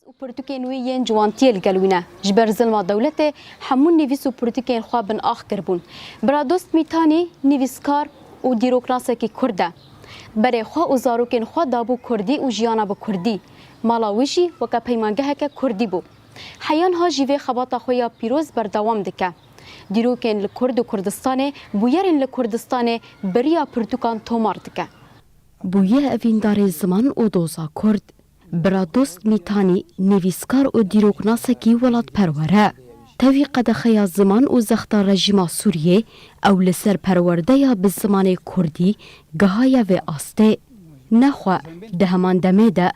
Nivîs û pirtûkên wî yên ciwantiyê li gel wî ne. Ji ber zilma dewletê hemû nivîs û pirtûkên xwe bin ax kiribûn. Biradost Mîtanî nivîskar û dîroknasekî kurd e. Berê xwe û zarokên xwe dabû kurdî û jiyana bi kurdî. Mala wî jî weke peymangeheke kurdî bû. Heyan ha jî vê xebata xwe ya pîroz berdewam dike. Dîrokên li Kurd û Kurdistanê, bûyerên li Kurdistanê bi riya pirtûkan tomar dike. Bûye evîndarê ziman û doza kurd. Biradost Mîtanî nivîskar û dîroknasekî welatperwer e. Tevî qedexeya ziman û zexta rejîma Sûriyê, ew li ser perwerdeya bi zimanê kurdî gihaye vê astê. Ne xwe, di heman demê de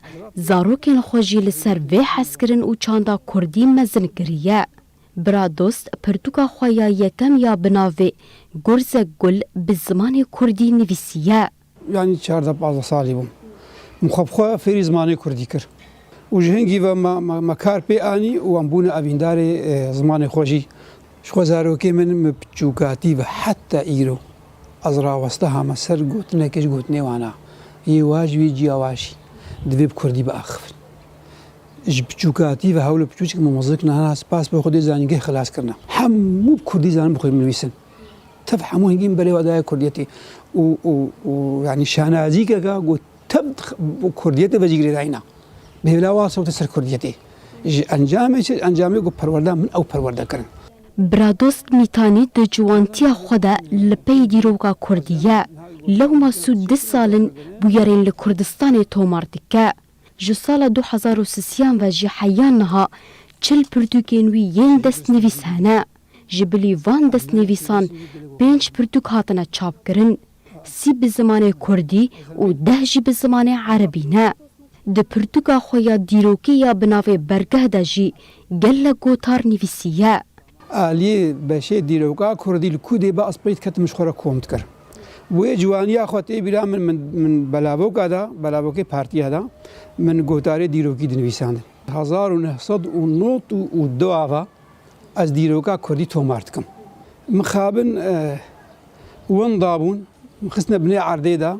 zarokên xwe jî li ser vê hezkirin û çanda kurdî mezin kiriye. Biradost pirtûka xwe ya yekem ya bi navê Gurzek Gul bi zimanê kurdî nivîsiye. Yanî çardeh pazdeh salî bûm min xwe bi xwe fêrî zimanê kurdî kir û ji hingî ve me kar pê anî û em bûne evîndarê zimanê xwe jî. Ji xwe zarokê min bi piçûkatî ve heta îro ez raweste hame ser gotinekê ji gotinê wan a, yê wa ji wê ciya wa jî divê bi kurdî biaxivin. Ji piçûkatî ve hewl û piçûçik min mizin kirine, hena spas bo Xwedê zanîngeh xilas kirine. Hemû bi kurdî zanin bi xwe binivîsin. Tev hemû hingîn belê wa daye kurdiyetê û û û yanî şanazîkeka ku tev kurdiyetê ve jî girêdayîna. Bêvla wa sewte ser kurdiyetê. Ji encamê çi? Encamê ku perwerda min ew perwerde kirin. Biradost Mîtanî di ciwantiya xwe de li pey dîroka kurdî ye. Lewma sûd du sal in bûyerên li Kurdistanê tomar dike. Ji sala du hezar û sisiyan ve jî heya niha çil pirtûkên wî yên destnivîs hene. Ji bilî van destnivîsan pênc pirtûk hatine çapkirin. Sî bi zimanê kurdî û deh jî bi zimanê erebî ne. Di pirtûka xwe ya dîrokê ya bi navê Bergeh de jî gelek gotar nivîsiye. Aliyê beşê dîroka kurdî li ku dê bi aspirî diketim ji xwe re kom dikir. Wê ciwaniya xwe tê bîra min min min belavoka da, belavokê partiya da min gotarê dîrokî dinivîsandin. Hezar û neh sed û nod û du ava ez dîroka kurdî tomar dikim. Mixabin winda bûn, min xistine binê erdê da.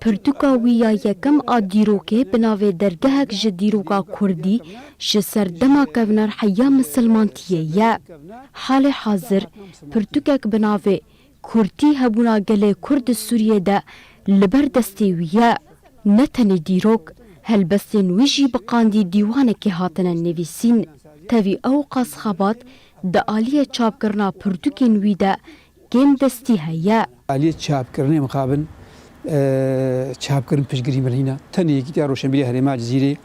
Pirtûka wî ya yekem a dîrokê bi navê Dergehek ji dîroka Kurdî ji ser dema kevinar heya misilmantiyê ye. Halê hazir pirtûkek bi navê Kurdî hebûna gelê Kurd di Sûriyê de li ber destê wî ye. Ne tenê dîrok, helbestên wî jî bi qandî dîwanekê hatine nivîsîn. Tevî ew qas xebat di aliyê çapkirina pirtûkên wî de Kêm destî heye. Aliyê çapkirinê mixabin çapkirin piştgirî min hîna tenê Yekîtiya Roşenbîrî ya Herêma Cizîrê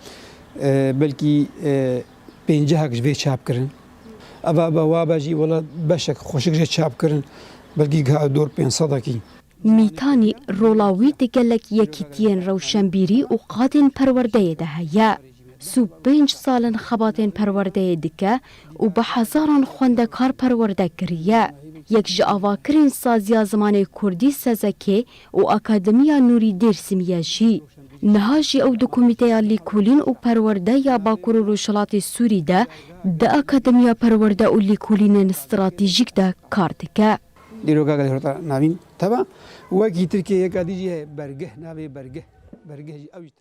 belkî pêncehek ji vê çap kirin. Ev a be wa be jî wela beşek xweşik jê çap kirin belkî giha dor pênc sedekî. Mîtanî rola wî di gelek yekîtiyên rewşenbîrî û qadên perwerdeyê de heye. Sî û pênc sal in xebatên perwerdeyê dike û bi hezaran xwendekar perwerde kiriye. Yek ji avakirên saziya zimanê kurdî Sezekê û Akademiya Nûrî Dêrsimî ye jî. Niha jî ew di Komîteya Lîkolîn û Perwerde ya Bakur û Rojhilatê Sûrî de di Akademiya Perwerde û Lîkolînên Stratejîk de kar dike. Dîroka gelê Hirota navîn teba wekî Tirkiyeyê yeka dî jî heye, Bergih navê bergih bergih jî ew jî teba.